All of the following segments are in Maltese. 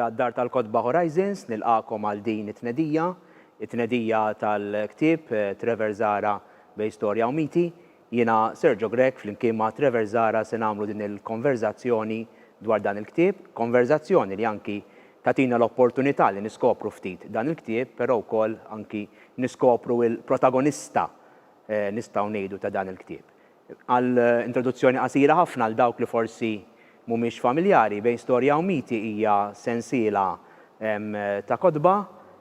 ta' Dar tal-Kotba Horizons nilqakom għal din it-tnedija, it-tnedija tal-ktieb eh, Trevor Zara bej storja u miti, Jiena, Sergio Grech, flimkien ma' Trevor Zahra se nagħmlu din il-konverżazzjoni dwar dan il-ktieb, konverżazzjoni li anki tagħtina l-opportunità li niskopru ftit dan il-ktieb, però wkoll anki niskopru il-protagonista nistgħu ngħidu ta' dan il-ktieb. Għal introduzzjoni qasira ħafna għal dawk li forsi mhumiex familjari, Bejn Storja u Miti hija sensiela ta' kotba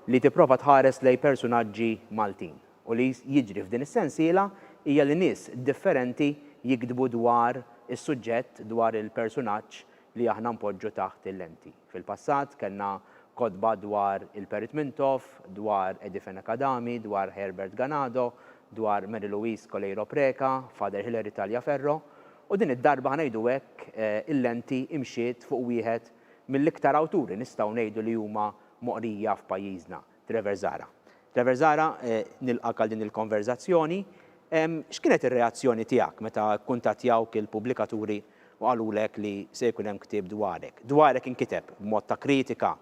li tipprova tħares lejn persunaġġi Maltin. U li jiġri f'din is-sensiela hija li nies differenti jiktbu dwar is-suġġett, dwar il-persunaġġ li aħna npoġġu taħt il-lenti. Fil-passat kellna kotba dwar il-Perit Mintoff, dwar Edifene Kadami, dwar Herbert Ganado, dwar Mary Louise Coleiro Preca, Father Hilary Tagliaferro, u din id-darba ħa ngħidu hekk il-lenti imxiet fuq wieħed mill-iktar awturi nistgħu ngħidu li huma moqrija f'pajjiżna, Trevor Zahra. Trevor Zahra, nilqgħek għal din il-konverżazzjoni. X'kienet ir-reazzjoni tiegħek meta kkuntattjawk il-pubblikaturi u qalulek li se jkun hemm ktieb dwarek? Dwarek inkiteb b'mod ta' kritika,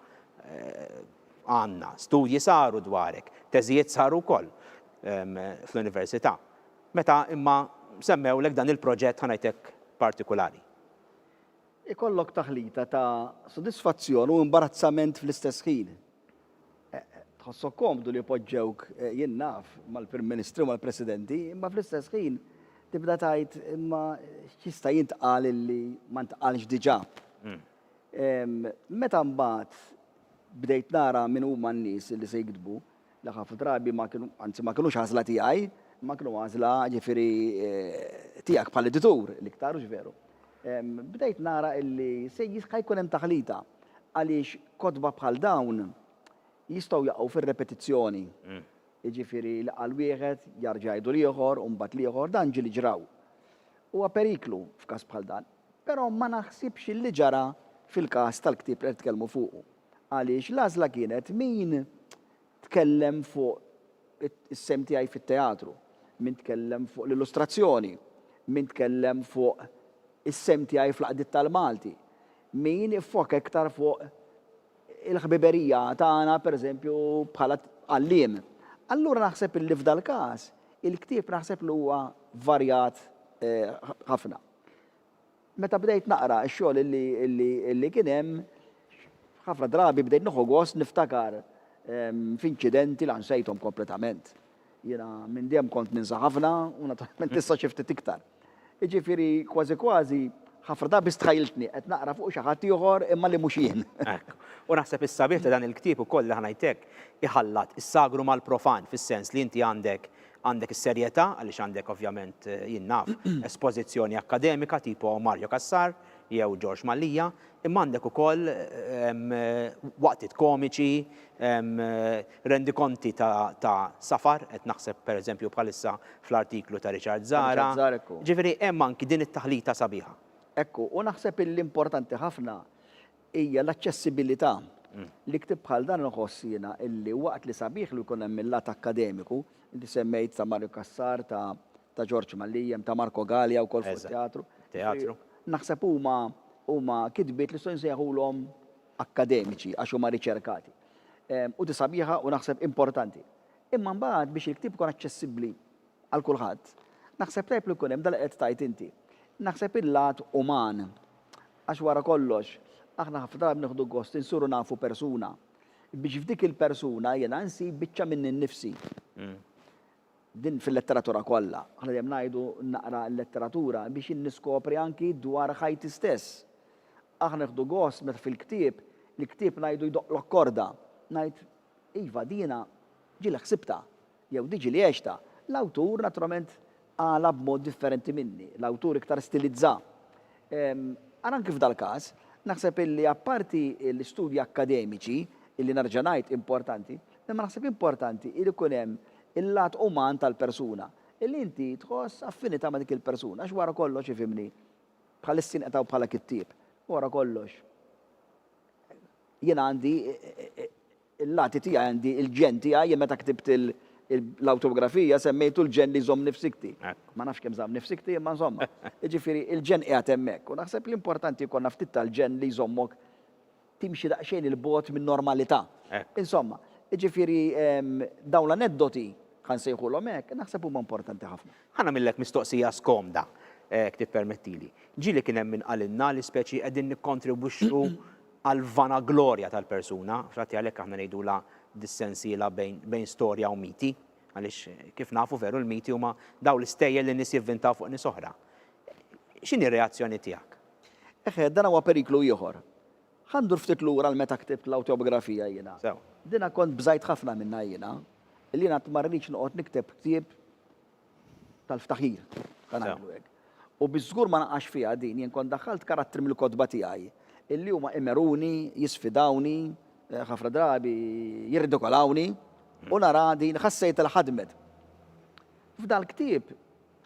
għandna studji saru dwarek, teżijiet saru wkoll fl-Università. Meta imma semmewlek dan il-proġett, ħa ngħidlek partikulari. Ikollok taħlita ta' sodisfazzjon u imbarazzament fl-istess ħin. Tħossok komdu li poġġewk, jien naf, mal-Prim Ministri u mal-Presidenti, imma fl-istess ħin tibda tgħid, imma x'jista' jintqal li ma ntqalx diġà? Meta mbagħad bdejt nara min huma n-nies li se jiktbu, li ħafna drabi ma kienu, anzi ma kinux għażla tiegħi, imma kienu għażla ġifieri tiegħek bħala editur l-iktar, hux veru? Bdejt nara illi se jista' jkun hemm taħlita għaliex kotba bħal dawn jistgħu jaqgħu fir-repetizzjoni. Jiġifieri li qal wieħed jarġa' jgħidu l-ieħor u mbagħad l-ieħor, dan ġieli ġraw. Huwa periklu f'każ bħal dan, però ma naħsibx illi ġara fil-każ tal-ktieb li qed nitkellmu fuqu. għaliex l-għażla kienet min tkellem fuq is-sehem tiegħi fit-teatru, min tkellem fuq l-illustrazzjoni, min tkellem fuq is-sehem tiegħi fl-għaqdiet tal-Malti, min iffoka iktar fuq il-ħbiberija tagħna pereżempju bħala għalliem. Allura naħseb illi f'dal-każ il-ktieb naħseb li huwa varjat ħafna. Meta bdejt naqra x-xogħol li kien hemm, ħafna drabi bdejt nieħu gost niftakar f'inċidenti la nsejthom kompletament. Jiena minn dejjem kont ninsa ħafna u naturalment issa xi ftit iktar. Jiġifieri kważi kważi ħafna drabi stħajjiltni qed naqra fuq xi ħadd ieħor imma li mhux jien. Hekk. U naħseb is-sabiħ ta' dan il-ktieb ukoll, aħna ngħid hekk, iħallat is-sagru mal-profan, fis-sens li inti għandek Għandek is-serjetà għaliex għandek ovvjament, jien naf, espożizzjoni akkademika tipo Mario Cassar jew George Mallia, imma għandek ukoll waqtiet komiċi, rendikonti ta' safar, qed naħseb pereżempju bħalissa fl-artiklu ta' Richard Zahra, jiġifieri hemm anki din it-taħlita sabiħa. Hekk hu, u naħseb li importanti ħafna Hija l-aċċessibilità li ktieb bħal dan inħoss jiena illi waqt li sabiħ li jkun hemm il-lat akkademiku, inti semmejt ta' Mario Cassar, ta' ta' Ġorġ Mallia, hemm ta' Marco Galea wkoll fuq it-teatru. Teatru. Naħseb huma huma kitbiet li nistgħu nsejħulhom akkademiċi għax huma riċerkati. U di sabiħa u naħseb importanti. Imma mbagħad biex il-ktieb ikun aċċessibbli Għal kulħadd. Naħseb tajjeb li jkun hemm dak li qed tgħid inti. Naħseb il-lat uman. Għax wara kollox, aħna ħafna drabi nieħdu gost insuru nafu persuna. Biex f'dik il-persuna jiena nsib biċċa minni nnifsi. Din fil-letteratura kollha. Aħna dejjem ngħidu naqra l-letteratura biex jien niskopri anki dwar ħajti stess. Aħna nieħdu gost meta fil-ktieb, il-ktieb ngħidu jdoqqlok korda. Ngħid, iva, dina ġieli ħsibtha. Jew diġi li għextha. L-awtur naturalment qalha b'mod differenti minni. L-awtur iktar stilizza. Ara anki f'dal-każ, naħseb illi apparti l-istudji akkademiċi, illi nerġa' ngħid importanti, imma naħseb importanti illi jkun hemm il-lat uman tal-persuna, illi inti tħoss affinita' ma' dik il-persuna, għax wara kollox ifhimni, bħalissa jinqata' bħala kittieb, wara kollox jien għandi il-lati tiegħi għandi il-ġenn tiegħi, jien meta ktibt l-awtografija semmejtu l-ġenn li jżomm nifsikti. Ma nafx kemm żamm nifsikti imma nżommha. Jiġifieri il-ġenn qiegħed hemmhekk u naħseb li importanti jkollna ftit tal-ġenn li jżommok timxi daqsxejn 'il bogħod min-normalità. Insomma, jiġifieri dawn l-aneddoti, ħa nsejħulhom hekk, naħseb huma importanti ħafna. Ħa nagħmillek mistoqsija skomda, jekk tippermettili. Ġieli kien hemm min qalilna li speċi qegħdin nikkontribwixxu għall-vanaglorja tal-persuna, f'dati għalhekk aħna ngħidulha dis-sensiela bejn bejn storja u miti, għaliex kif nafu veru l-miti huma dawn l-istejjer li nies jivvintaw fuq nies oħra. X'inhi r-reazzjoni tiegħek? Eħe, dan huwa periklu ieħor. Ħa ndur ftit lura għal meta ktibt l-awtjobgrafija jiena. Sew. Dina kont bżajt ħafna minnha jiena, li jiena qatt ma rridx noqgħod nikteb ktieb tal-ftaħir, ta' ngħidlu hekk. U biex żgur ma naqax fiha din, jien kont daħħalt karattri mill-kotba tiegħi, illi huma imeruni, jisfidawni, ħafna drabi jirridikolawni, u nara din ħassejtha li ħadmet. F'dal-ktieb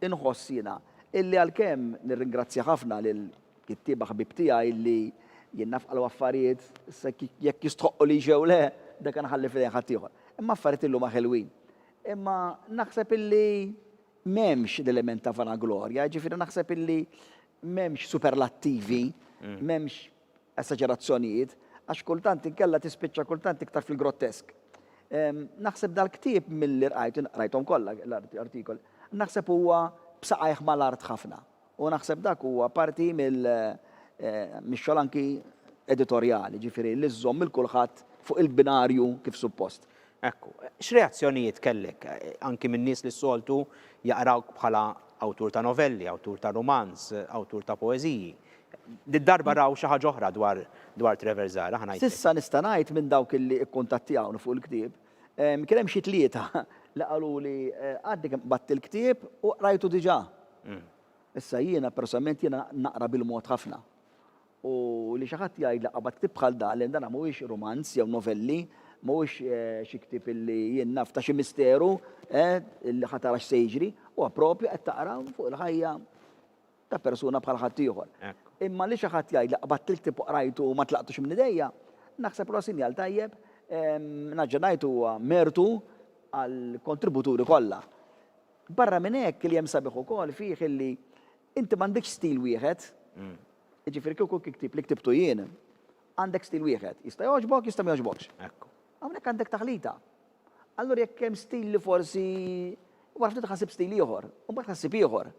inħoss jiena illi għalkemm nirringrazzja ħafna lill-kittieba ħbieb tiegħi illi jien naf qalhom affarijiet, issa jekk jistħoqqu li jew le, dak inħalli f'idejn ħaddieħor. Imma affarijiet illi huma ħelwin, Imma naħseb illi m'hemmx l-element ta' vanaglorja, jiġifieri naħseb illi m'hemmx superlattivi, m'hemmx esaġerazzjonijiet, għax kultant inkella tispiċċa kultant iktar fil-grottesk. Naħseb dal-ktieb milli rqajtu, qrajthom kollha l-artikoli, naħseb huwa b'saqajh mal-art ħafna. U naħseb dak huwa parti mill, mix-xogħol anki editorjali, jiġifieri li żżomm lil kulħadd fuq il-binarju kif suppost. Ekku. X'reazzjonijiet kellek anki minn nies li s-soltu jaqrawk bħala awtur ta' novelli, awtur ta' rumanz, awtur ta' poeżiji? Did-darba raw xi ħaġa oħra dwar dwar Trevor Zahra, ħa ngħidlek. S'issa nista' ngħid minn dawk li kkuntattjawni fuq il-ktieb, Kien hemm xi tlieta li qaluli għadni kemm qbadt il-ktieb u qrajtu diġà. Issa jiena personalment jiena naqra bil-mod ħafna. U li xi ħadd jgħidli qabad ktieb bħal dan, lejn dan mhuwiex rumanz jew novelli, mhuwiex xi ktieb li jien naf ta' xi misteru, eh, li ħa tara x'se jiġri, huwa proprju qed taqra fuq il-ħajja. Ta' persuna bħal ħaddieħor. Imma li xi ħadd jgħidli qbadt il-ktieb u qrajtu u ma tlaqtux minn idejja, naħseb li huwa sinjal tajjeb. Naġġa' ngħid huwa mertu għall-kontributuri kollha. Barra minn hekk, li hemm sabiħ ukoll fih illi inti m'għandekx stil wieħed. Jiġifieri kieku ktieb li ktibtu jien, għandek stil wieħed. Jista' jogħġbok, jista' ma jogħġbokx. Hawnhekk għandek taħlita. Allura jekk hemm stil li forsi wara ftit ħasib stil ieħor, u mbagħad ħassib ieħor.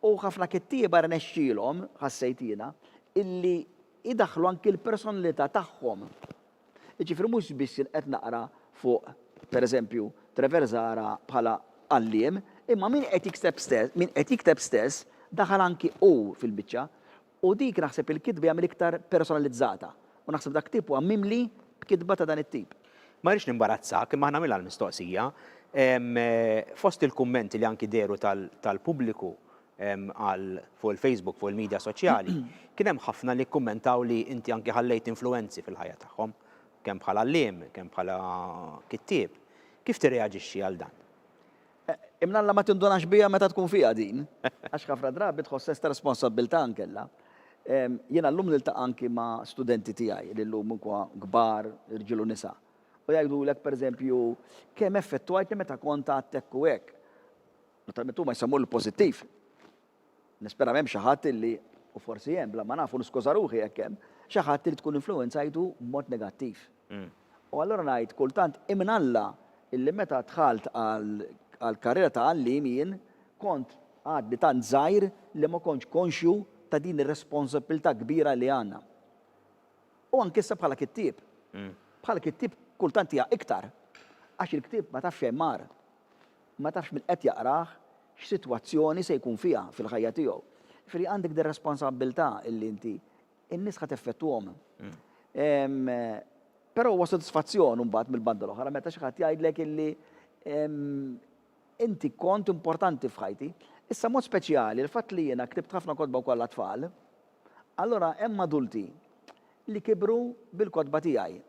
U ħafna kittieba rnexxielhom, ħassejt jiena, illi jdaħħlu anki l-personalità tagħhom. Jiġifieri mhux biss qed naqra fuq, pereżempju, Trevor Zahra bħala għalliem, imma min qed jikteb stess, min qed jikteb stess daħal anki hu fil-biċċa. U dik naħseb il-kitba hija mill-iktar personalizzata u naħseb dak tip huwa mimli b'kitba ta' dan it-tip. Ma rridx nimbarazzak imma ħanagħmilha l-mistoqsija. Fost il-kummenti li anki dehru tal-pubbliku għal fuq il-Facebook, fuq il-midja soċjali, kien hemm ħafna li kkummentaw li inti anki ħallejt influwenzi fil-ħajja tagħhom, kemm bħala għalliem, kemm bħala kittieb. Kif tirreaġixxi għal dan? Imma Alla ma tindunax biha meta tkun fiha din, għax ħafna drabi tħoss sens ta' responsabbiltà ankella. Jiena llum niltaqa' anki ma' studenti tiegħi li llum inkwa kbar, irġiel u nisa, u jgħidulek, pereżempju, kemm effettwajtni meta kont għad hekk u hekk. Naturalment huma jsemmu l-pożittiv. Nispera m'hemmx xi ħadd li, u forsi hemm, bla ma naf u niskuża ruħi jekk hemm, xi ħadd li tkun influwenzajtu b'mod negattiv. U allura ngħid, kultant hi minn Alla illi meta dħalt għall-karriera ta' għalliem jien kont għadni tant żgħir li ma kontx konxju ta' din ir-responsabbiltà kbira li għandna. U anke issa bħala kittieb. Bħala kittieb kultant hija iktar, għax il-ktieb ma tafx xejn mar. Ma tafx min qed jaqrah x'sitwazzjoni se jkun fiha fil-ħajja tiegħu. Jiġifieri għandek dir-responsabbiltà illi inti n-nies ħa teffettwahom. Però huwa sodisfazzjon imbagħad mill-banda l-oħra meta xi ħadd jgħidlek illi inti kont importanti f'ħajti. Issa mod speċjali l-fatt li jiena ktibt ħafna kotba wkoll għat-tfal, allura hemm adulti li kibru bil-kotba tiegħi.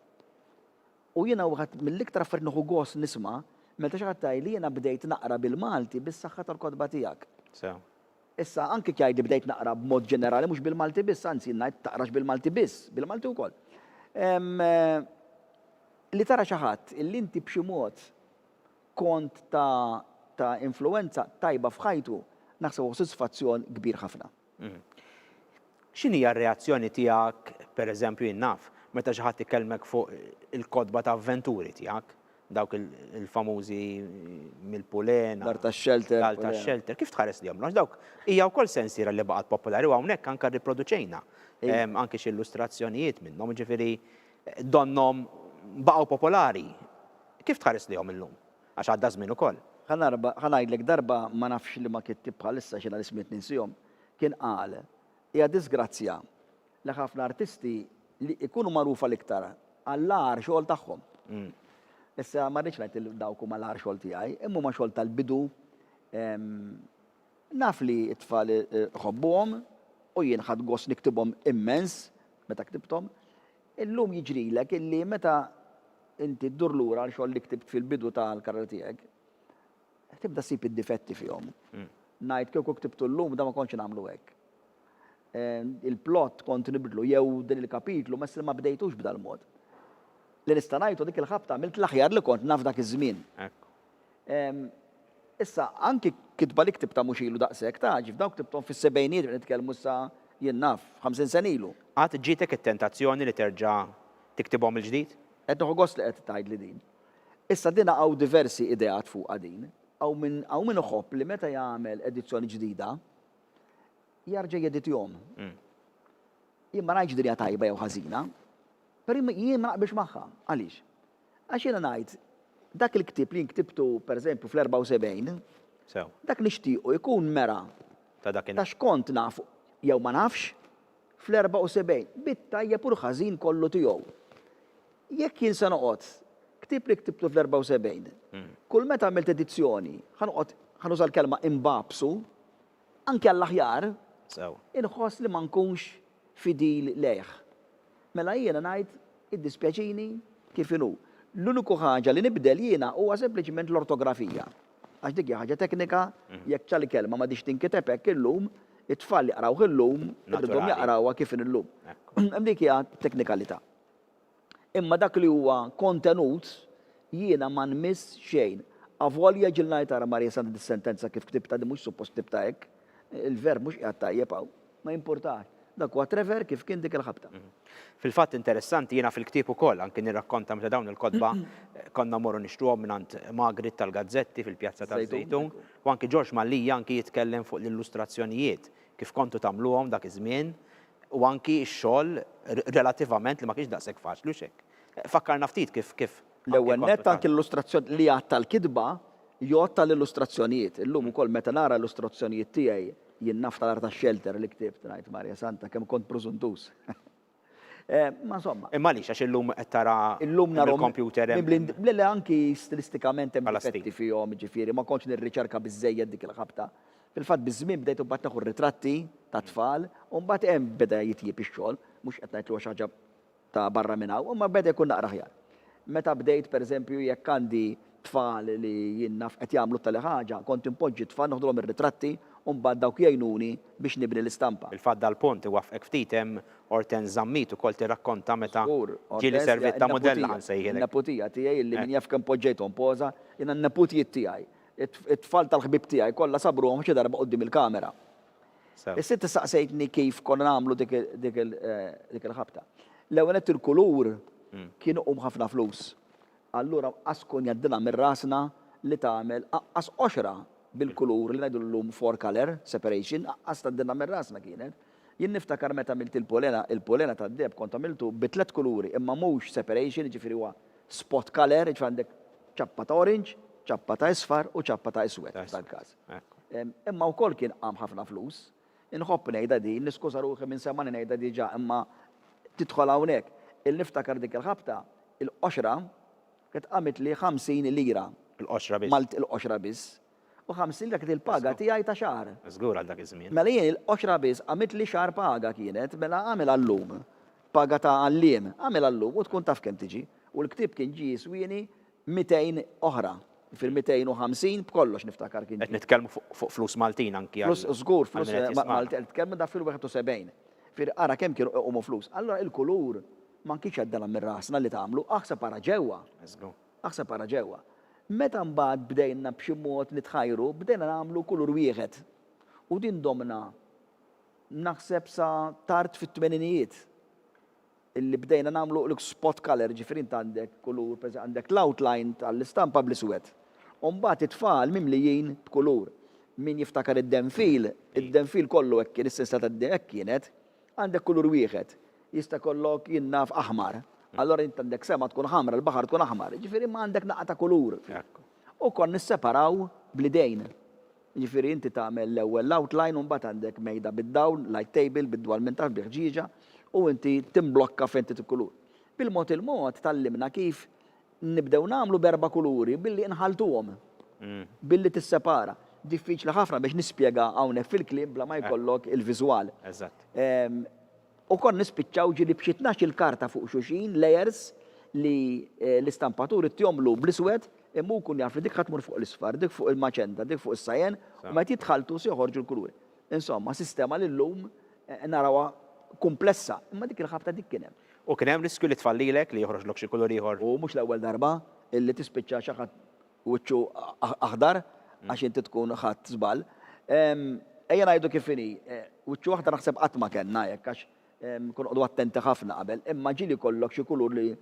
U jiena waħed mill-iktar affarijiet nieħu gost nisma' meta xi ħadd jgħidli jiena bdejt naqra bil-Malti bis-saħħa tal-kotba tiegħek. Sew. Issa, anki jekk jgħidli bdejt naqra b'mod ġenerali mhux bil-Malti biss, anzi jien ngħid taqrax bil-Malti biss, bil-Malti wkoll. Li tara xi ħadd illi inti b'xi mod kont ta' ta' influwenza tajba f'ħajtu, naħseb huwa sodisfazzjon kbir ħafna. X'inhi r-reazzjoni tiegħek, per eżempju jien naf, meta xi ħadd ikellmek fuq il-kotba ta' avventuri tiegħek, dawk il-famużi Mill-Pulena, L-Art tax-Xelter, L-Art tax-Xelter, kif tħares lejhom? Għax dawk hija wkoll sensiela li baqgħet popolari u hawnhekk anke rriproduċejna anke xi illustrazzjonijiet minnhom, jiġifieri donnhom baqgħu popolari. Kif tħares lejhom illum? Għax għadda żmien ukoll. Ħa narba, ħa ngħidlek darba ma nafx liema kittieb bħalissa x'inha l-ismijiet ninsihom, kien qal, Hija diżgrazzja li ħafna artisti li jkunu magħrufa l-iktar għall-agħar xogħol tagħhom. Issa ma rridx ngħid li dawk huma l-agħar xogħol tiegħi, imma huma xogħol tal-bidu. Naf li t-tfal iħobbuhom u jien ħadt gost niktibhom immens meta ktibthom. Illum jiġrilek illi meta inti ddur lura għal xogħol li ktibt fil-bidu ta' l-karriera tiegħek, tibda ssib id-difetti fihom. Ngħid kieku ktibtu llum dan ma kontx nagħmlu hekk. Il-plott kont nibdlu jew din il-kapitlu mess li ma bdejtux b'dal-mod. Li nista' ngħid hu dik il-ħabta għamilt l-aħjar li kont naf dak iż-żmien. Issa, anki kitba li ktibtha mhux ilu daqshekk, tgħaġġ, f'dawk ktibthom fis-sebgħinijiet qed nitkellmu issa, jien naf, ħamsin sena ilu. Qatt ġietek it-tentazzjoni li terġa' tiktibhom mill-ġdid? Qed nieħu gost li qed tgħidli din. Issa din hawn diversi ideat fuqha din. Hawn min, hawn min iħobb li meta jagħmel edizzjoni ġdida, jarġa' jeditihom. Jien ma ngħidx din hija tajba jew ħażina, però jien ma naqbilx magħha. Għaliex? Għax jiena ngħid, dak il-ktieb li jien ktibtu pereżempju fl-74, dak nixtiequ jkun mera ta' x'kont naf jew ma nafx fl-74, bit-tajjeb u l-ħażin kollu tiegħu. Jekk jien se noqgħod ktieb li ktibtu fl-74, kull meta għamilt edizzjoni, ħa noqgħod, ħa nuża l-kelma imbagħbsu, Anki għall-aħjar, inħoss li ma nkunx fidil lejh. Mela jiena ngħid, iddispjaċini, kif inhu. L-uniku ħaġa li nibdel jiena huwa sempliċement l-ortografija. Għax dik hija ħaġa teknika, jekk tal kelma m'għadhiex tinkiteb hekk illum, it-tfal jaqrawh illum, irridhom jaqrawha kif inhi llum. Dik hija teknikalità. Imma dak li huwa kontenut, jiena ma nmiss xejn. Avolja ġilna li tara Marija Santa tissentenza kif ktibtha din mhux suppost ktibtha hekk, il-verb mhux qiegħed tajjeb hawn, ma jimpurtax. Dak huwa Trevor kif kien dik il-ħabta. Fil-fatt interessanti, jiena fil-ktieb ukoll anki nirrakkonta meta dawn il-kotba konna mmorru nixtruhom mingħand Magrit tal-gazzetti fil-Pjazza taż-Żejtun u anki Ġorġ Mallia anki jitkellem fuq l-illustrazzjonijiet kif kontu tagħmluhom dak iż-żmien, u anki x-xogħol relativament li ma kienx daqshekk faċli u x'hekk. Fakkarna ftit kif kif L-ewwel nett anki l-illustrazzjoni li għadd tal-kitba jgħodd tal-illustrazzjonijiet. Illum ukoll meta nara illustrazzjonijiet tiegħi jien naftakar tax-xelter li ktibt ngħid Marja Santa kemm kont prużuntuż. Ma insomma. Imma għaliex għax illum qed tara illum nara l-kompjuter hemm. Le le anki stilistikament hemm difetti fihom jiġifieri ma kontx nirriċerka biżżejjed dik il-ħabta. Fil-fatt biż-żmien bdejt imbagħad neħu r-ritratti tat-tfal u mbagħad hemm beda jitjieb ix-xogħol, mhux qed ngħid li huwa xi ħaġa ta' barra minn hawn, imma beda jkun naqra aħjar. Meta bdejt pereżempju jekk għandi tfal li jien naf qed jagħmlu t-tali ħaġa, kont inpoġġi t-tfal neħdulhom ir-ritratti u mbagħad dawk jgħinuni biex nibni l-istampa. Fil-fatt dal-punt iwaffqek ftit hemm Hortense Zammit ukoll tirrakkonta meta ġieli serviet ta' mudell ħa nsejħilek. Żgur, Hortense hija n-neputija, n-neputija tiegħi li min jaf kemm poġġejthom poża, jiena n-neputijiet tiegħi It-tfal tal-ħbieb tiegħi kollha sabruhom xi darba quddiem il-kamera. Is-sitt issaqsejtni kif konna nagħmlu dik il-ħabta. L-ewwel nett il-kulur hmm. kien iqum ħafna flus. Allura qaskun jaddina minn rasna li tagħmel aqqas qoxra bil-kulur li ngħidu llum four color separation, aqqas taddina minn rasna kienet. Jien niftakar meta għamilt il-polena, il-polena tad-deheb kont għamiltu bi tliet kuluri imma mhux separation jiġifieri huwa spot colour jiġifieri għandek ċappa ta' orange, ċappa ta' isfar u ċappa ta' iswed f'dal-każ. Imma wkoll kien qam ħafna flus. Inħobb ngħidha din, niskuża ruħi minn semgħani ngħidha diġà imma tidħol hawnhekk. Il niftakar dik il-ħabta, il-qoxra kienet qamtli 50 lira. Il-qoxra biss. Malti, il-qoxra biss. u ħamsin dak il-paga tiegħi ta' xahar. Żgur għal dak iż-żmien. Mela jien il-qoxra biss għamiltli xahar paga kienet, mela agħmilha llum. Paga ta' għalliem, agħmilha llum u tkun taf kemm tiġi. U l-ktieb kien ġie jiswieni mitejn oħra. Jiġifieri mitejn u ħamsin b'kollox niftakar kien ġie. Qed nitkellmu fuq flus Maltin anki għal min qed jismagħna. Żgur, flus Maltin, qed nitkellmu dak fil-71. Jiġifieri ara kemm kienu iqumu flus. Allura l-kulur ma kienx għaddela minn rasna li tagħmlu, aħseb ara ġewwa. Żgur. Aħseb ara ġewwa. Meta mbagħad bdejna b'xi mod nitħajru, bdejna nagħmlu kulur wieħed. U din domna naħseb sa tard fit-tmeninijiet. Illi bdejna nagħmlu l-, spot colour, jiġifieri int għandek kulur, per għandek l-outline tal-istampa bl-iswed. U mbagħad it-tfal mimlijin b'kulur. Min jiftakar id-denfil, id-denfil kollu hekk kien, is-sinsla tad-denfil hekk kienet. Għandek kulur wieħed. Jista' jkollok, jien naf, aħmar. Allura int għandek sema tkun ħamra, l-baħar tkun aħmar. Jiġifieri imma għandek naqgħa ta' kulur. U kont nisseparaw bl-idejn. Jiġifieri inti tagħmel l-ewwel l-outline u mbagħad għandek mejda bid-dawl, light table, bid-dwal minn taħt, bil-ħġieġa, u inti timblokka fejn trid il-kulur. Bil-mod il-mod tgħallimna kif Nibdew nagħmlu b'erba' kuluri billi nħalltuhom, billi tissepara. Diffiċli ħafna biex nispjega hawnhekk fil-kliem bla ma jkollok il-viżwal. Eżatt. U kont nispiċċaw ġieli b'xi tnax-il karta fuq xulxin, layers, li l-istampatur ittihomlu bl-iswed, imma hu jkun jaf li dik ħa tmur fuq l-isfar, dik fuq il-maċenta, dik fuq is-cyan, u meta jitħalltu se joħorġu l-kuluri. Insomma, sistema li llum narawha kumplessa, imma dik il-ħabta dik kien hemm. U kien hemm riskju li tfallilek, li joħroġlok xi kulur ieħor. U mhux l-ewwel darba li tispiċċa xi ħadd wiċċu aħdar għax inti tkun ħadt żball. Ejja ngħidu kif inhi, wiċċu aħdar naħseb qatt ma kellna hekk għax Kun noqogħdu attenti ħafna qabel. Imma ġieli jkollok xi kulur li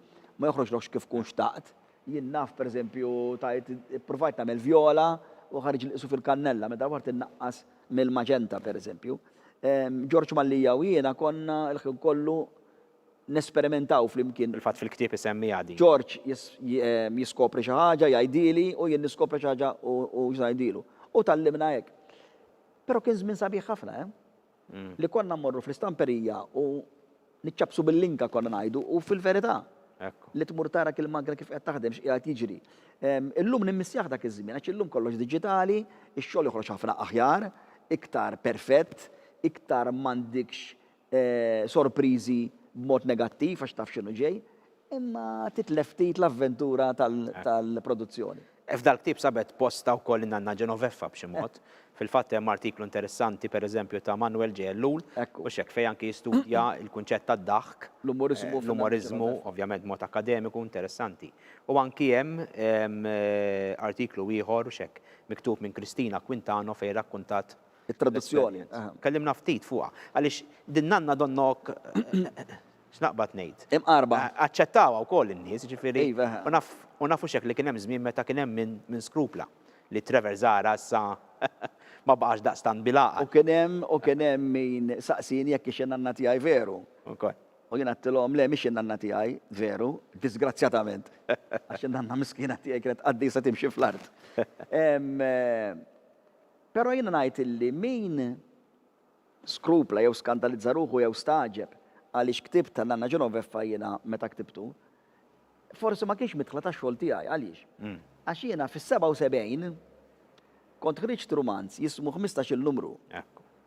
ma joħroġlokx kif tkun xtaqt. Jien naf, pereżempju, tajt ippruvajt nagħmel vjola u ħareġli qisu fil-kannella, meta dawart innaqqas mill-maġenta, pereżempju. George Mallia u jiena konna l-ħin kollu nesperimentaw flimkien. Fil-fatt fil-ktieb isemmiha din. George jiskopri xi ħaġa, jgħidhieli, u jien niskopri xi ħaġa u ngħidhielu. U tgħallimna hekk. Però kien żmien sabiħ ħafna, eh! li konna mmorru fl-istamperija u niċċappsu bil-linka konna ngħidu u fil-verità li tmur tara kil magna kif qed taħdem x'qiegħed jiġri. Illum nimmissjah dak iż-żmien għax illum kollox diġitali, ix-xogħol joħroġ ħafna aħjar, iktar perfett, iktar m'għandikx sorpriżi b'mod negattiv għax taf x'inhu ġej. Imma titlef ftit l-avventura tal-produzzjoni. F'dal-ktieb sabet postha wkoll in-nanna Genoveffa b'xi mod. Fil-fatt hemm artiklu interessanti, per eżempju, ta' Manwel Ġe Ellul, mhux hekk, fejn anki jistudja l-kunċett tad-daħk, l-umoriżmu, ovvjament b'mod akkademiku, interessanti. U anki hemm artiklu ieħor, mhux hekk, miktub minn Kristina Quintano fejn rakkuntat it-traduzzjoni. Tkellimna ftit fuqha. Għaliex din nanna donnok X'naqbad ngħid? Imqarba. Aċċettawha wkoll in-nies, jiġifieri. Iva. U nafu x'hekk li kien hemm żmien meta kien hemm min skrupla li Trevor Zahra issa ma baqax daqstant bil-għaqal. U kien hemm, u kien hemm min saqsieni jekk hix in-nanna tiegħi veru. Ukoll. U jien għedtilhom, le mhix in-nanna tiegħi veru, diżgrazzjatament, għax in-nanna miskina tiegħi kienet qaddisa timxi fl-art. Però jiena ngħid illi min. skrupla jew skandalizza ruħu jew stagħġeb għaliex ktibt ta' Nanna Genoveffa jiena meta ktibtu forsi ma kienx midħla tax-xogħol tiegħi. Għaliex? Għax jiena fis-77 kont ħriġt rumanz jismu Ħmistax-il Numru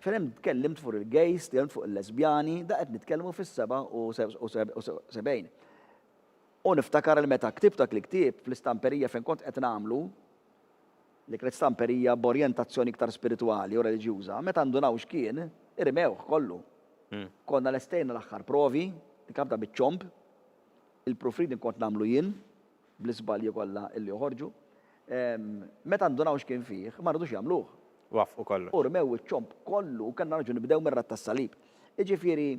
fejn tkellimt fuq il-gays, tkellimt fuq il-lesbjani, da qed nitkellmu fis-77. U niftakar li meta ktibt dak il-ktieb fl-istamperija fejn kont qed nagħmlu, L-Ikrett Stamper hija b'orjentazzjoni iktar spiritwali u reliġjuża. Meta ndunaw x'kien, irmewh kollu. Konna lestejna l-aħħar provi, il-kabda biċ-ċomb, il-proofreading kont nagħmlu jien, bl-iżbalji kollha li joħorġu. Meta ndunaw x'kien fih, ma ridux jagħmluh. Waffqu kollox. U rmew iċ-ċomb kollu u kellna nerġgħu nibdew mir-ratt tas-salib. Jiġifieri,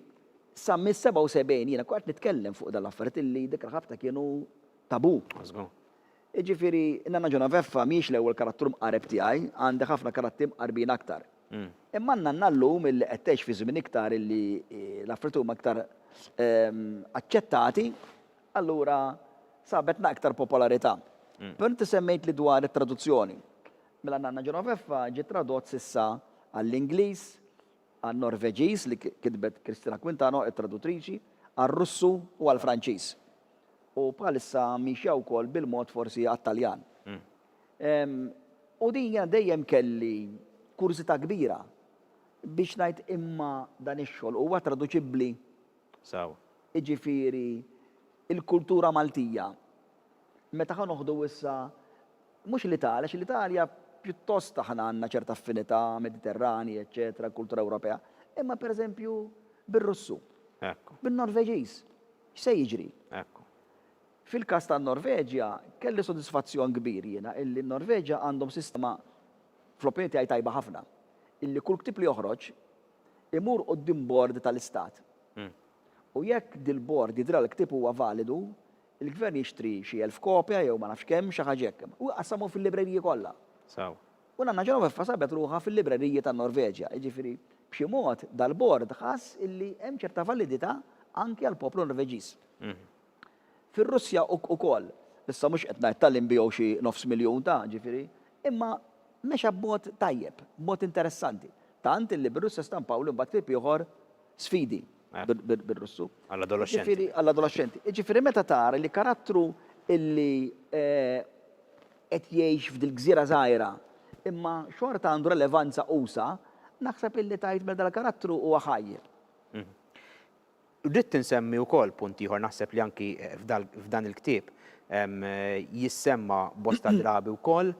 sa mis-77 jiena qgħadt nitkellem fuq dan l-affarijiet illi dik il-ħabta kienu tabù. Żgur. Jiġifieri, in-Nanna Ġenoveffa mhijiex l-ewwel karattru mqareb tiegħi, għandi ħafna karattri mqarbin aktar. Imma n-Nanna llum illi qed tgħix fi żmien iktar illi l-affarijiet huma iktar aċċettati, allura sabetna iktar popolarità. Però inti semmejtli dwar it-traduzzjoni. Mela n-Nanna Ġenoveffa ġie tradott s'issa għall-Ingliż, għan-Norveġiż li kitbet Cristina Quintano, it-tradutriċi, għar-Russu u għall-Franċiż, u bħalissa miexja wkoll bil-mod forsi għat-Taljan. U din jiena dejjem kelli kurżità kbira biex ngħid imma dan ix-xogħol huwa traduċibbli? Sew. Jiġifieri l-kultura Maltija meta ħa noħdu issa Mhux l-Italja, għax l-Italja pjuttost aħna għandna ċerta affinità, Mediterranji, eċċetera, l-kultura Ewropea, imma pereżempju bir-Russu, bin-Norveġiż, x'se jiġri? Fil-każ tan-Norveġja, kelli sodisfazzjon kbir jiena illi n-Norveġja għandhom sistema, fl-opinjoni tiegħi tajba ħafna, illi kull ktieb li joħroġ imur quddiem bord tal-istat. U jekk dil-bord jidhrilha l-ktieb huwa validu, Il-Gvern jixtri xi elf kopja jew ma nafx kemm, xi ħaġa hekk, u jqassamhom fil-libreriji kollha. Sew. U Nanna Ġenoveffa sabet ruħha fil-libreriji tan-Norveġja. Jiġifieri, b'xi mod, dal-Bord ħass illi hemm ċerta validità anki għall-poplu Norveġiż. Fir-Russja ukoll. Issa mhux qed ngħid talli nbigħu xi nofs miljun ta', jiġifieri, imma mexa b'mod tajjeb, b'mod interessanti. Tant illi bir-Russja stampawli mbagħad klieb ieħor, Sfidi. bil-Russu. Għall-adolexxenti. Għall-adolexxenti. Jiġifieri meta tara li karattru illi qed jgħix f'dil-gżira żgħira imma xorta għandu relevanza usa', naħseb illi tgħid mela dal-karattru huwa ħaj. Ridt insemmi wkoll punt ieħor naħseb li anki f'dan il-ktieb jissemma bosta drabi wkoll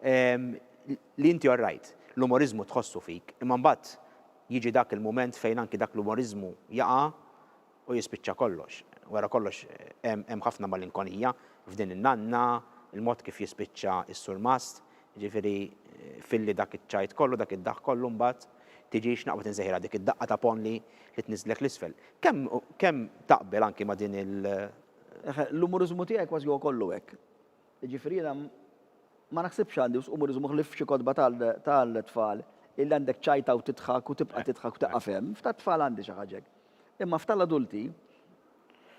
li inti orrajt l-umoriżmu tħossu fik imma mbagħad Jiġi dak il-mument fejn anki dak l-umoriżmu jaqa' u jispiċċa kollox. Wara kollox hemm ħafna malinkonija f'din in-nanna, il-mod kif jispiċċa s-surmast, jiġifieri filli dak iċ-ċajt kollu, dak id-daħk kollu mbagħad tiġi x'naqbad insejħilha dik id-daqqa ta' ponn li tniżżlek 'l isfel. Kemm kemm taqbel anki ma' din il. L-umoriżmu tiegħi kważi huwa kollu hekk. Jiġifieri jiena ma naħsibx għandi wisq umoriżmu ħlief f'xi kotba tal-tfal illi għandek tċajta u tidħak u tibqa' tidħak u tieqaf hemm. F'tat-tfal għandi xi ħaġa hekk. Imma f'tal-adulti,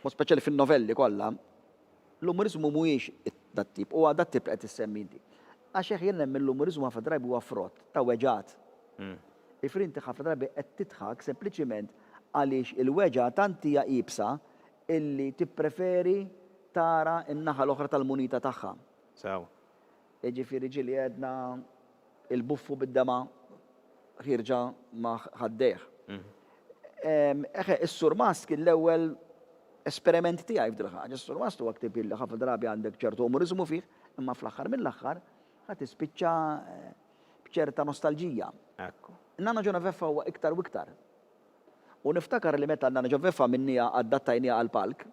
b'mod speċjali fin-novelli kollha, l-umoriżmu mhuwiex dat-tip, huwa dat-tip li qed issemmi inti. Għax hekk jien nemmen l-umoriżmu ħafna drabi huwa frott ta' weġgħat. Jiġifieri inti ħafna drabi qed tidħak sempliċiment għaliex il-weġgħa tant hija iebsa illi tippreferi tara n-naħa l-oħra tal-munita tagħha. Sew. Jiġifieri ġieli għedna il-buffu bid-dema' ħierġa ma' ħaddejh. Eħe, is-Surmast kien l-ewwel esperiment tiegħi f'dil ħaġa. Is-Surmast huwa ktieb illi ħafna drabi għandek ċertu umoriżmu fih, imma fl-aħħar mill-aħħar ħa tispiċċa b'ċerta nostalġija. Hekk hu. Nanna Ġeneveffa huwa iktar u iktar. U niftakar li meta Nana Ġofefa għamilnieha addattajnieha għall-palk,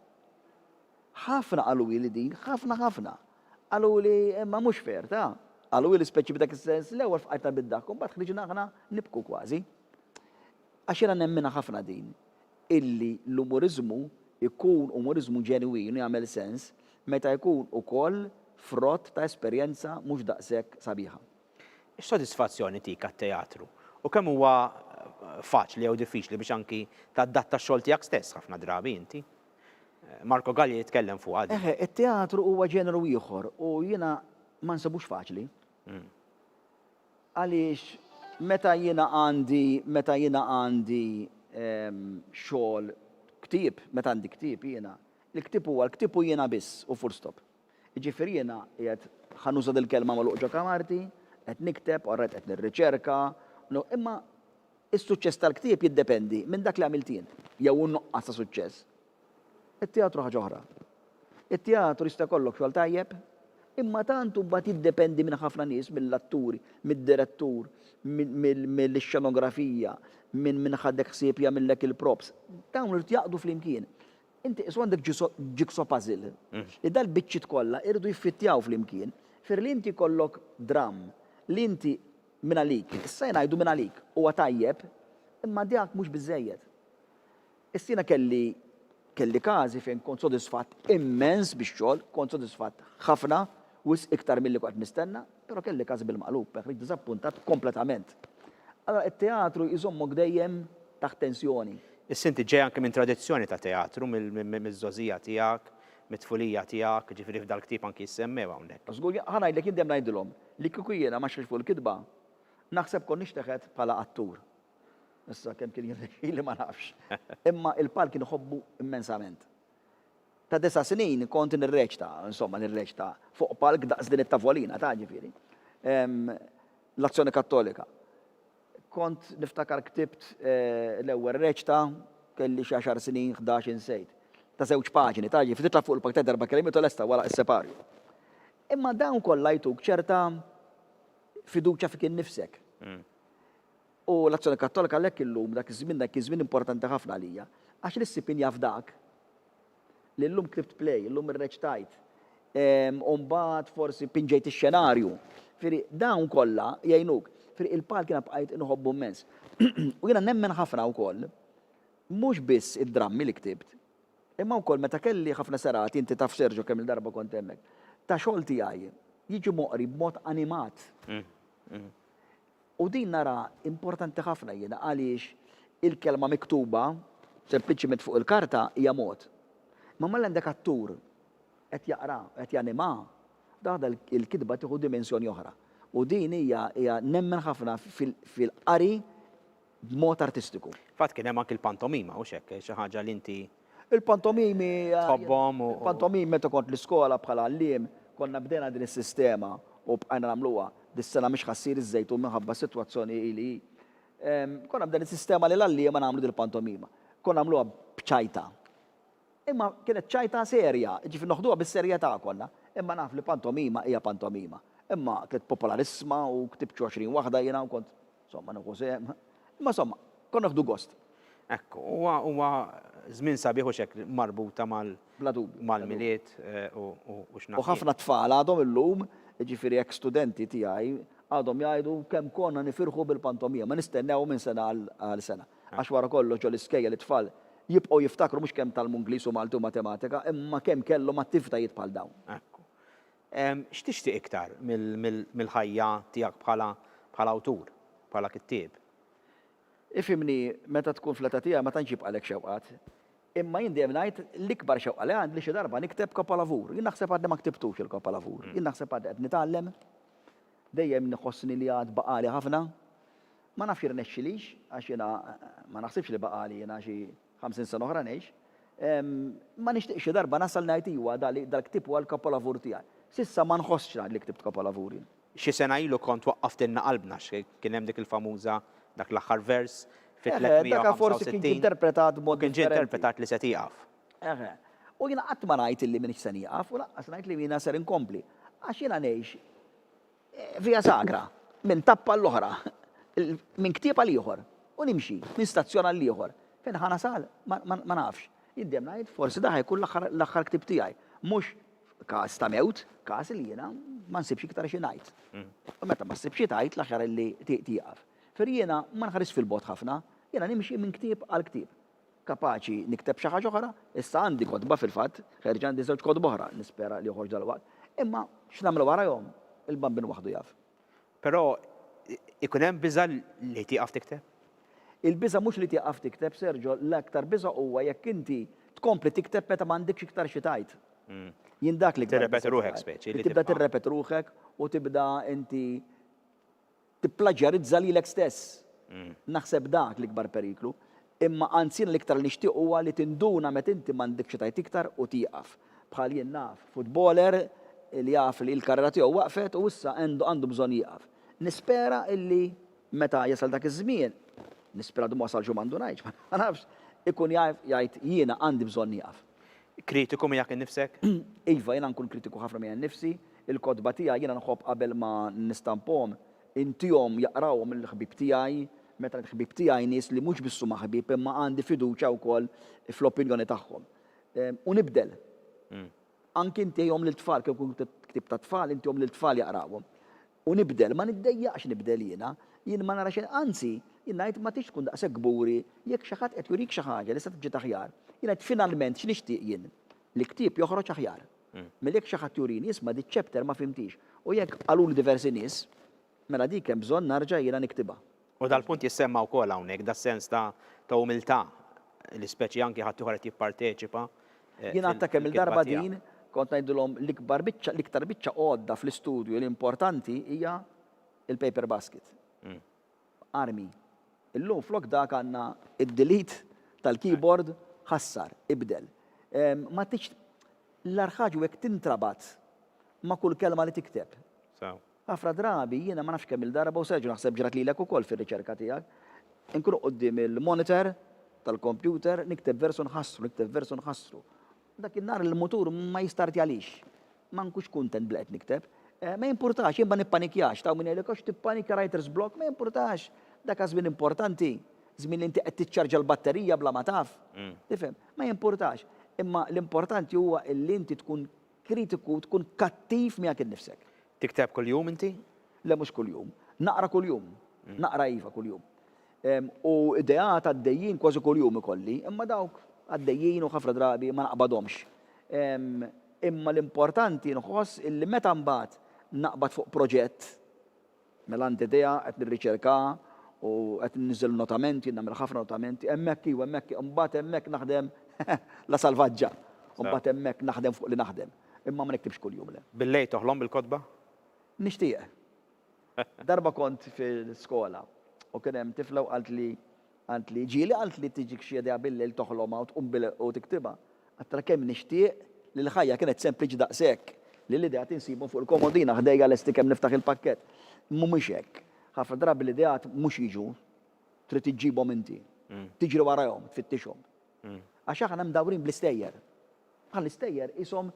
ħafna qaluli din, ħafna ħafna. Qaluli imma mhux fair, ta? Qaluli speċi b'dak is-sens, l-ewwel fqajtna bid-daħk u mbagħad ħriġna aħna nibku kważi. Għax jiena nemminha ħafna din, illi l-umuriżmu jkun umuriżmu ġenwin u jagħmel sens meta jkun ukoll frott ta' esperjenza mhux daqshekk sabiħa. X'sodisfazzjon itik għat-teatru? U kemm huwa faċli jew diffiċli biex anki tadatta x-xogħol tiegħek stess ħafna drabi inti? Marco Gallia jitkellem fuqha din. Eħe, it-teatru huwa ġeneru ieħor u jiena ma nsibux faċli. Għaliex meta jiena għandi, meta jiena għandi xogħol, ktieb, meta għandi ktieb jiena, il-ktieb huwa l-ktieb u jiena biss u full stop. Jiġifieri jiena qiegħed, ħa nuża dil-kelma magħluq ġo kamarti, qed nikteb, orajt qed nirriċerka, no, imma is-suċċess tal-ktieb jiddependi minn dak li għamilt jien, jew in-nuqqas ta' suċċess. It-teatru ħaġa oħra. It-teatru jista' jkollok xogħol tajjeb, imma tant hu mbagħad jiddependi minn ħafna nies, mill-atturi, mid-direttur, mill-xenografija, minn min ħadek ħsieb jagħmillek il-props. Dawn irid jaqdu flimkien. Inti qisu għandek jigsaw puzzle li dal-biċċiet kollha jridu jiffittjaw flimkien. Jifieri li inti jkollok dramm li inti mingħalik, issa ngħidu mingħalik, huwa tajjeb, imma dak mhux biżżejjed. Issa jiena kelli kelli każi fejn kont sodisfatt immens bix-xogħol, kont sodisfatt ħafna, Wisq iktar milli kont nistenna, però kelli każ bil-maqlub, hekk li diżappuntat kompletament. Allura t-teatru jżommok dejjem taħt tensjoni. Issa inti ġej anke minn tradizzjoni ta' teatru, mill-żgħożija tiegħek, mit-tfulija tiegħek, jiġifieri f'dal-ktieb anke jissemmew hawnhekk. Żgur, ħa ngħidlek, jien dejjem ngħidilhom li kieku jiena ma xejtx fuq il-kitba, naħseb kont nixteħet bħala attur. Issa kemm kien jirnexxili ma nafx. Imma l-palk inħobbu immensament. Ta' disa' snin kont nirreċta, insomma nirreċta, fuq palk daqs din it-tavolina, taf ġifieri, l-Azzjoni Kattolika. Kont niftakar ktibt l-ewwel reċta, kelli xi għaxar snin, ħdax insejt. Ta' żewġ paġni, taf ġifieri, titla' fuq il-palk tgħid erba' kelmiet u lesta wara is-separju. Imma dawn kollha jtuk ċerta fiduċja fik innifsek. U l-Azzjoni Kattolika għalhekk illum, dak iż-żmien, dak kien żmien importanti ħafna għalija, għax li ssib injaf dak li llum ktibt play, llum irreċtajt, u mbagħad forsi pinġejt ix-xenarju. Ġifieri dawn kollha jgħinuk. Ġifieri il-palk jiena bqajt inħobbu mmens. U jiena nemmen ħafna wkoll, mhux biss id-drammi li ktibt, imma wkoll meta kelli ħafna serati, inti taf Sergio kemm-il darba kont hemmhekk, ta' xogħol tiegħi jiġi moqri b'mod animat. U din naraha importanti ħafna jiena għaliex il-kelma miktuba sempliċiment fuq il-karta hija mod. Imma mela għandek attur qed jaqra, qed janima, daħda l-kitba tieħu dimensjoni oħra. U din hija hija nemmen ħafna fil-qari b'mod artistiku. Fatt kien hemm anki l-pantomima, hux hekk? Xi ħaġa li inti. Il-pantomimi. Tħobbhom u. Il-pantomimi meta kont l-iskola bħala għalliem konna bdejna din is-sistema u bqajna nagħmluha. Dis-sena mhix ħa ssir iż-Żejtun minħabba s-sitwazzjoni hi li hi. Konna bdejna s-sistema li l-għalliema nagħmlu dil-pantomima. Konna nagħmluha b'ċajta. Imma kienet ċajta serja, jiġifieri noħduha bis-serjetà konna. Imma naf li pantomima hija pantomima. Imma kienet popolarissma u ktibt xi għoxrin waħda jiena u kont. Somma nieħu sehem. Imma somma, konna nieħdu gost. Ekku, huwa huwa żmien sabiħ u xekk marbuta mal Bla dubju. mal-milied eh, u u u x'naf. U ħafna tfal għadhom illum, jiġifieri eks studenti tiegħi, għadhom jgħidu kemm konna nifirħu bil-pantomima, nistennew minn sena għal għal sena. Għax wara kollox ġo l-iskejjel it-tfal jibqgħu jiftakru mhux kemm tgħallmu Ingliż u Malti u Matematika, imma kemm kellhom attivtajiet bħal dawn. Ekku. X'tixtieq iktar mill-ħajja tiegħek bħala awtur, bħala kittieb? Ifhimni, meta tkun fl-età tiegħi ma tantx jibqgħalek xewqat. Imma jien dejjem ngħid l-ikbar xewqa li għandi li xi darba nikteb kapolavur. Jien naħseb għadni ma ktibtux il-kapolavur. Jien naħseb għadni qed nitgħallem. Dejjem nħossni li għad baqagħli ħafna. Ma nafx irnexxilix għax jiena ma naħsibx li baqagħli jiena xi. 50 sena oħra ngħix. Ma nixtieqx xi darba nasal ngħid iwa dal-ktieb huwa l-kapolavur tiegħi. S'issa ma nħossx ngħid li ktibt kapolavur jien. Xi sena ilu kont waqqaftilna qalbna għax kien hemm dik il-famuża dak l-aħħar vers fi 365. Dak forsi kien ġie interpretat b'mod differenti. Kien ġie interpretat li se tieqaf. Eħe. U jiena qatt ma ngħid illi m'iniex se nieqaf u lanqas ngħid li jiena ser inkompli. Għax jiena ngħix Via Sagra, minn tappa għall-oħra, minn ktieb għal ieħor, u nimxi, minn stazzjon għall-ieħor. Fejn ħa nasal? Ma nafx. Jiddemm ngħid, forsi dak ħa jkun l-aħħar ktieb tiegħi. Mhux każ ta' mewt, każ li jiena ma nsibx iktar xi ngħid. U meta ma ssib xi tgħid, l-aħjar li tieqaf. Ferri jiena ma nħarisx fil-bogħod ħafna, jiena nimxi minn ktieb għal ktieb. kapaċi nikteb xi ħaġa oħra, issa għandi kotba fil-fatt, ħerġa għandi żewġ kotba oħra, nispera li joħorġ dalwaqt, imma x'nagħmel warajhom, il-Bambin waħdu jaf. Però ikun hemm biża' li tieqaf tikteb? Il-biża' mhux li tieqaf tikteb, Sergio, l-aktar biża' huwa jekk inti tkompli tikteb meta m'għandekx iktar xi tgħid. Jien dak l-iktar. Tirrepeti ruħek speċi. Tibda tirrepeti ruħek u tibda inti Tipplaġjarizza lilek stess. Naħseb dak l-ikbar periklu. Imma anzi jiena l-iktar li nixtieq huwa li tinduna meta inti m'għandek xi tgħid iktar u tieqaf. Bħal jien naf futboler li jaf li l-karriera tiegħu waqfet u issa għandu bżonn jieqaf. Nispera li meta jasal dak iż-żmien, nispera għadu ma wasalx u ma ndunajtx, ma nafx, ikun jaf jgħid jiena għandi bżonn nieqaf. Kritiku miegħek innifsek? Iva, jiena nkun kritiku ħafna miegħi nnifsi. Il-kotba tiegħi jiena nħobb qabel ma nistamphom intihom jaqrawhom il-ħbieb tiegħi, meta ngħid ħbieb tiegħi nies li mhux biss huma ħbieb imma għandi fiduċja wkoll fl-opinjoni tagħhom. U nibdel. Anki ntihom lil tfal kieku jkun ktieb tat-tfal intihom lil tfal jaqrawhom. U nibdel, ma niddejjaqx nibdel jiena. Jien ma nara xejn anzi, jien ngħid ma tridx tkun daqshekk kburi jekk xi ħadd qed jurik xi ħaġa li se tiġġiet aħjar. Jien ngħid finalment x'nixtieq jien? Li ktieb joħroġ aħjar. Mela jekk xi ħadd jurini, isma' di ċ-chapter ma fhimthiex, u jekk qaluli diversi nies, mela dik hemm bżonn narġa' jiena niktibha. U dal-punt jissemma wkoll hawnhekk, das-sens ta' ta' umiltà li speċi anki ħaddieħor qed jipparteċipa fil-kitba tiegħu. Jingħatta kemm il-darba din, kont ngħidilhom l-ikbar biċċa, l-iktar biċċa għodda fl-istudju li importanti hija l-paper basket. b'armi. Illum flok dak għandna id-delete tal-keyboard, ħassar, ibdel. Ma tridx L-agħar ħaġa hu jekk tintrabat ma' kull kelma li tikteb. Ħafna drabi jiena ma nafx kemm-il darba u Sergio naħseb ġrat lilek ukoll fir-riċerka tiegħek, inkun quddiem il-monitor tal-kompjuter nikteb vers u nħassru, nikteb vers u nħassru. Dak in-nhar il-mutur ma jistartjalix. Ma nkunx kuntent b'li qed nikteb. Ma jimpurtax, jien ma nippanikjax. T'hawn min jgħidlek, Għax tippanikja writer's block. Ma jimpurtax. Dak hu żmien importanti. Żmien li inti qed tiċċarġja l-batterija bla ma taf. Tifhem? Ma jimpurtax. Imma l-importanti huwa li inti tkun kritiku, tkun kattiv miegħek innifsek. Tikteb kuljum inti? Le mhux kuljum. Naqra kuljum. Naqra iva kuljum. U ideat għaddejjin kważi kuljum ikolli, imma dawk għaddejjin u ħafna drabi ma naqbadhomx. Imma l-importanti nħoss illi meta mbagħad naqbad fuq proġett, mela għandi idea, qed nirriċerkaha u qed inniżżel notamenti, jien nagħmel ħafna notamenti, hemmhekk iva, hemmhekk, imbagħad hemmhekk naħdem la salvaġġa. U mbagħad hemmhekk naħdem fuq li naħdem. Imma ma niktibx kuljum, le. Billejl toħlom bil-kotba? Nixtieq. Darba kont fil-skola u kien hemm tifla u qaltli, qaltli, ġieli qaltli tiġik xi idea bil-lejl toħlomha u tqum bil u tiktibha. Għadtilha kemm nixtieq li l-ħajja kienet sempliċi daqshekk li l-ideat insibhom fuq il-komodina ħdejja lesti kemm niftaħ il-pakkett. Mhumiex hekk. Ħafna drabi l-ideat mhux jiġu, trid iġġibhom inti. Tiġri warajhom, tfittixhom. Għax aħna mdawrin bl-istejjer. Bħal l-istejjer qishom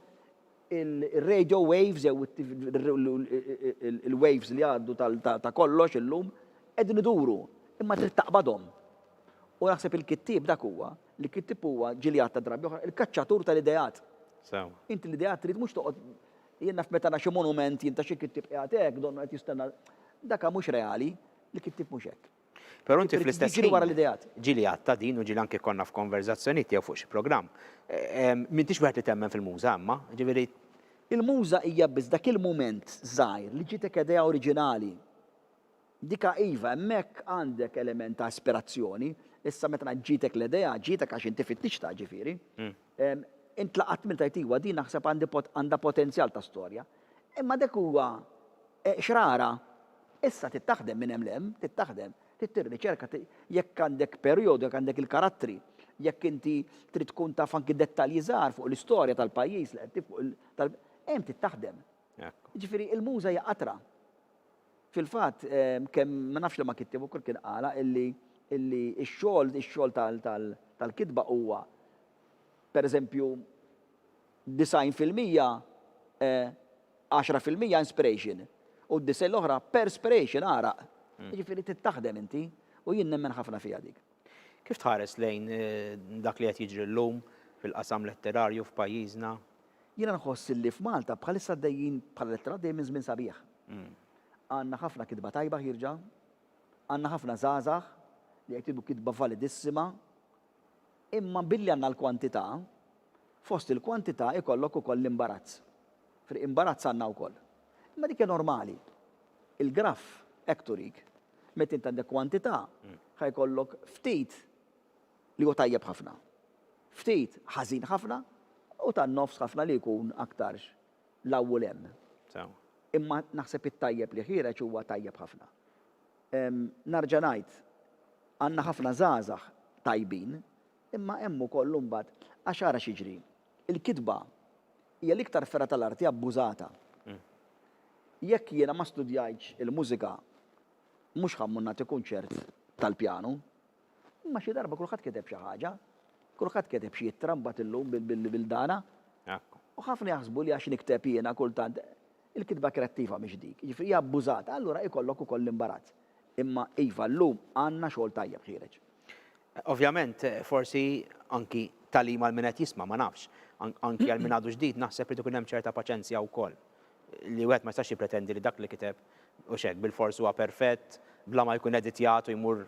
ir-radio waves jew il-waves li jgħaddu ta' kollox illum qegħdin iduru, imma trid taqbadhom. U naħseb il-kittieb dak huwa, li kittieb huwa, ġieli għadtha drabi oħra, il-kaċċatur tal-ideat. Sew. Inti l-ideat trid mhux toqgħod jien naf meta ara xi monument jien ta' xi kittieb qiegħed hekk, donnu qed jistenna. Dak mhux reali, il-kittieb mhux hekk. Però inti fl-istess ħin. Ġieli wara l-ideat. Ġieli għad ta' din u ġieli anke konna f'konverżazzjonijiet tiegħu fuq xi programm. M'intix wieħed li temmen fil-muża imma, ġifieri. Il-muża hija biss dak il-mument żgħir li ġietek idea oriġinali. Dika iva, hemmhekk għandek element ta' ispirazzjoni, issa meta ngħid ġietek l-idea, ġietek għax inti fittixtha, ġifieri. Int laqgħat minn tgħid iwa din naħseb għandha potenzjal ta' storja. Imma dak huwa xrara. Issa trid taħdem minn hemm 'l hemm, trid taħdem, trid tirriċerka jekk għandek perjodu, jekk għandek il-karattri, jekk inti trid tkun taf anki dettalji żgħar fuq l-istorja tal-pajjiż li qed tiffuq il tal hemm trid taħdem. Jiġifieri il-muża hija qatra. Fil-fatt kemm ma nafx liema kittieb ukoll kien qalha illi illi x-xogħol ix-xogħol tal tal tal-kitba huwa pereżempju 90 fil-mija e, 10 fil-mija inspiration, u d-disgħin l-oħra perspiration, għaraq. Jiġifieri trid taħdem inti, u jien nemmen ħafna fiha dik. Kif tħares lejn dak li qed jiġri llum fil-qasam letterarju f'pajjiżna? Jiena nħoss illi f'Malta bħalissa għaddejjin bħala letteratura għaddejjin minn żmien sabiħ. Għandna ħafna kitba tajba ħierġa, għandna ħafna żgħażagħ li qed jgħidu kitba validissima, Imma billi għandna l-kwantità, fost il-kwantità ikollok ukoll l-imbarazz. Fri imbarazz għandna wkoll. Imma dik hija normali. Il-graff hekk turik. Meta int għandek kwantità, ħa jkollok ftit li hu tajjeb ħafna, ftit ħażin ħafna u tan-nofs ħafna li jkun aktarx 'l hawn u 'l hemm. Imma naħseb it-tajjeb li ħiereġ huwa tajjeb ħafna. Nerġa' ngħid, għandna ħafna żgħażagħ tajbin, imma hemm ukoll imbagħad, għax ara x'jiġri, il-kitba hija l-iktar fergħa tal-arti abbużata. Jekk jiena ma studjajtx il-mużika, mhux ħa mmur nagħti kunċert tal-pjanu, Imma xi darba kulħadd kiteb xi ħaġa. Kulħadd kiteb xi ittra mbagħad illum bil-bildana. U ħafna jaħsbu li għax nikteb jiena kultant, il-kitba kreattiva mhix dik. Jiġifieri hija abbużata, allura ikollok ukoll l-imbarazz. Imma iva, llum għandna xogħol tajjeb ħiereġ. Ovvjament, forsi anki tagħlim għal min qed jisma', ma nafx. Anki għal min għadu ġdid, naħseb irid ikun hemm ċerta paċenzja wkoll. li wieħed ma jistax jippretendi li dak li kiteb hux hekk bilfors huwa perfett bla ma jkun editjat u jmur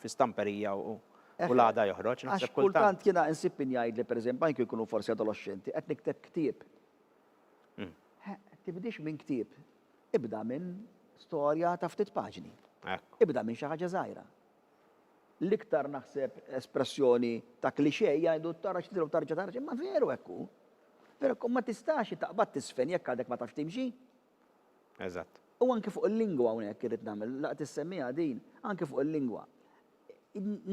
fi stamperija u u l-għada joħroġ. Naħseb kultant. Għax kultant jiena insib min jgħidli pereżempju anki jkunu forsi adoloxxenti qed nikteb ktieb. Tibdiex minn ktieb, ibda minn storja ta' ftit paġni. Ibda minn xi ħaġa żgħira. L-iktar naħseb espressjoni ta' cliché jgħidu tara xi trid u tarġa' tara xi, imma veru hekk hu. Veru hekk hu, ma tistax taqbad tiżfen jekk għadek ma tafx timxi. Eżatt. U anki fuq il-lingwa hawnhekk irrid nagħmel, la qed issemmiha din, anki fuq il-lingwa.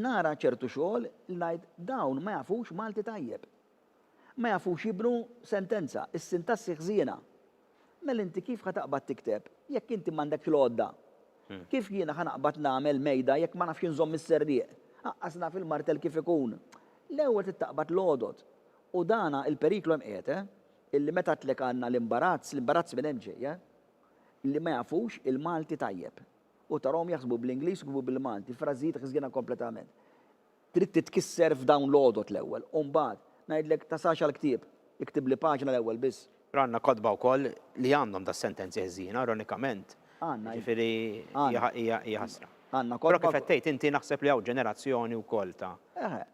Nara ċertu xogħol li ngħid dawn ma jafux Malti tajjeb. Ma jafux jibnu sentenza, is-sintassi ħżiena. Mela inti kif ħa taqbad tikteb jekk inti m'għandekx l-għodda? Kif jiena ħa naqbad nagħmel mejda jekk ma nafx inżomm is-serrieq? Aqqas naf il-martell kif ikun. L-ewwel trid taqbad l-għodod. U dana il-periklu hemm qiegħed, eh? Illi meta għedtlek għandna l-imbarazz, l-imbarazz minn hemm ġej, eh? Li ma jafux il-Malti tajjeb. U tarahom jaħsbu bl-Ingliż u jkbu bil-Malti, frażijiet ħżiena kompletament. Trid titkisser f'dawn l-għodod l-ewwel u mbagħad ngħidlek tasax għall-ktieb. Iktibli paġna l-ewwel biss. Għandna kotba wkoll li għandhom das-sentenzi ħżiena, ironikament. Għandna, iva. Jiġifieri hija hija ħasra. Għandna kotba. Però kif qed tgħid inti naħseb li hawn ġenerazzjoni wkoll ta'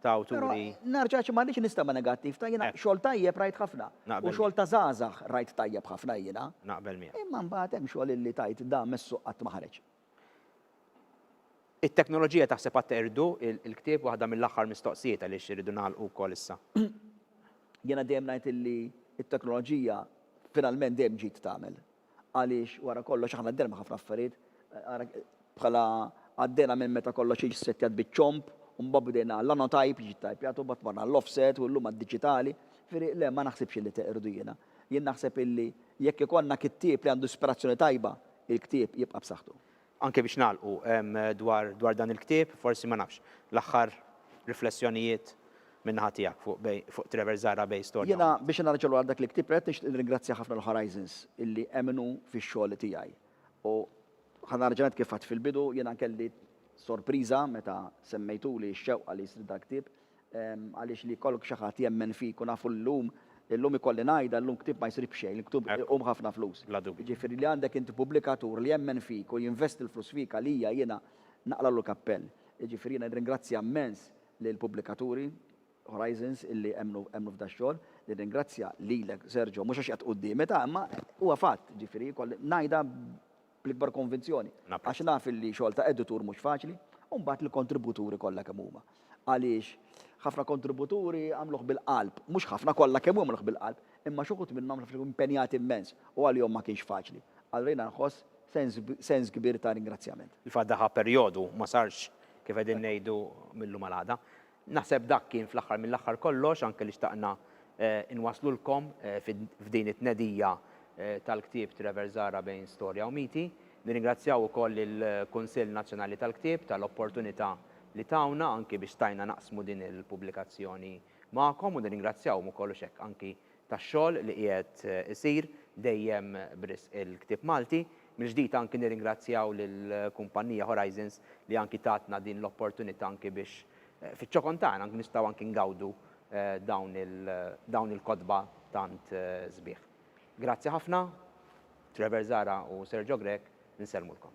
ta' awturi. Però nerġa' ma rridx nistema' negattiv, ta' jiena xogħol tajjeb rajt ħafna. Naqbel. U xogħol ta' żgħażagħ rajt tajjeb ħafna jiena. Naqbel miegħek. Imma mbagħad hemm xogħol illi tgħid dan mes-suq qatt ma ħareġ. It-teknoloġija taħseb għad irdu il-ktieb waħda mill-aħħar mistoqsijiet għaliex irridu nagħlqu wkoll issa. Jiena dejjem ngħid illi t-teknoloġija finalment dejjem ġid tagħmel għaliex wara kollox aħna għaddejna minn ħafna affarijiet ara bħala għaddejna minn meta kollox jiġi ssettjat biċ-ċomb u mbagħad bdejna l-anotype jiġi ttajpjat u mbagħad marna għall-offset u llum għad-diġitali. Jifieri le ma naħsibx illi teqirdu jiena. Jien naħseb illi jekk ikollna kittieb li għandu ispirazzjoni tajba il-ktieb jibqa' b'saħħtu. Anke biex nagħlqu dwar dwar dan il-ktieb, forsi ma nafx, l-aħħar riflessjonijiet min-naħa tiegħek fuq Bay fuq Trevor Zahra Bay Storja Oħra. Jiena biex nerġa' lura għal dak il-ktieb l-għonet nixtieq nirringrazzja ħafna lil Horizons illi emmnu fix-xogħol tiegħi. U ħa nerġa' ngħid kif għedt fil-bidu, jiena kelli sorpriża meta semmejtuli x-xewqa li jsir dal-ktieb, Għaliex li jkollok xi ħadd jemmen fik u nafu llum, illum ikolli ngħidha, illum ktieb ma jsir b'xejn, il-ktieb iqum ħafna flus. Jiġifieri li għandek inti pubblikatur li jemmen fik u jinvesti l-flus fik għalija jiena naqlagħlu l-kappell. Jiġifieri jiena nirringrazzja mmens lill-pubblikaturi, Horizons, illi emmnu emmnu f'dax-xogħol. Nirringrazzja lilek Sergio, mhux għax qiegħed quddiemi ta' imma huwa fatt, jiġifieri jkolli ngħidha bl-ikbar konvinzjoni, għax naf li xogħol ta' editur mhux faċli, u mbagħad lill-kontributuri kollha kemm huma. Għaliex, ħafna kontributuri għamluh bil-qalb, mhux ħafna, kollha kemm huma għamluh bil-qalb, imma xi wħud minnhom naf li kienu impenjati immens u għalihom ma kienx faċli. Allura jiena nħoss sens sens kbir ta' ringrazzjament. Il-fatt daħaq perjodu ma sarx, kif qegħdin ngħidu, mil-lum għal għada. Naħseb dak kien fl-aħħar mill-aħħar kollox anke li xtaqna nwasslulkom f'din it-tnedija tal-ktieb Trevor Zahra bejn Storja u Miti. Nirringrazzjaw ukoll lill-Kunsill Nazzjonali tal-Ktieb tal-opportunità li tawna anki biex stajna naqsmu din il-pubblikazzjoni magħkom u nirringrazzjawhom ukoll hux hekk anki tax-xogħol li qiegħed isir dejjem b'risq il-ktieb Malti. Mill-ġdid anki nirringrazzjaw lill-kumpannija Horizons li anki tatna din l-opportunità anki biex fiċ-ċokon tagħna nkunu nistgħu anki ngawdu dawn il-kotba tant sbieħ. Grazzi ħafna, Trevor Zahra u Sergio Grech, insellmulkom.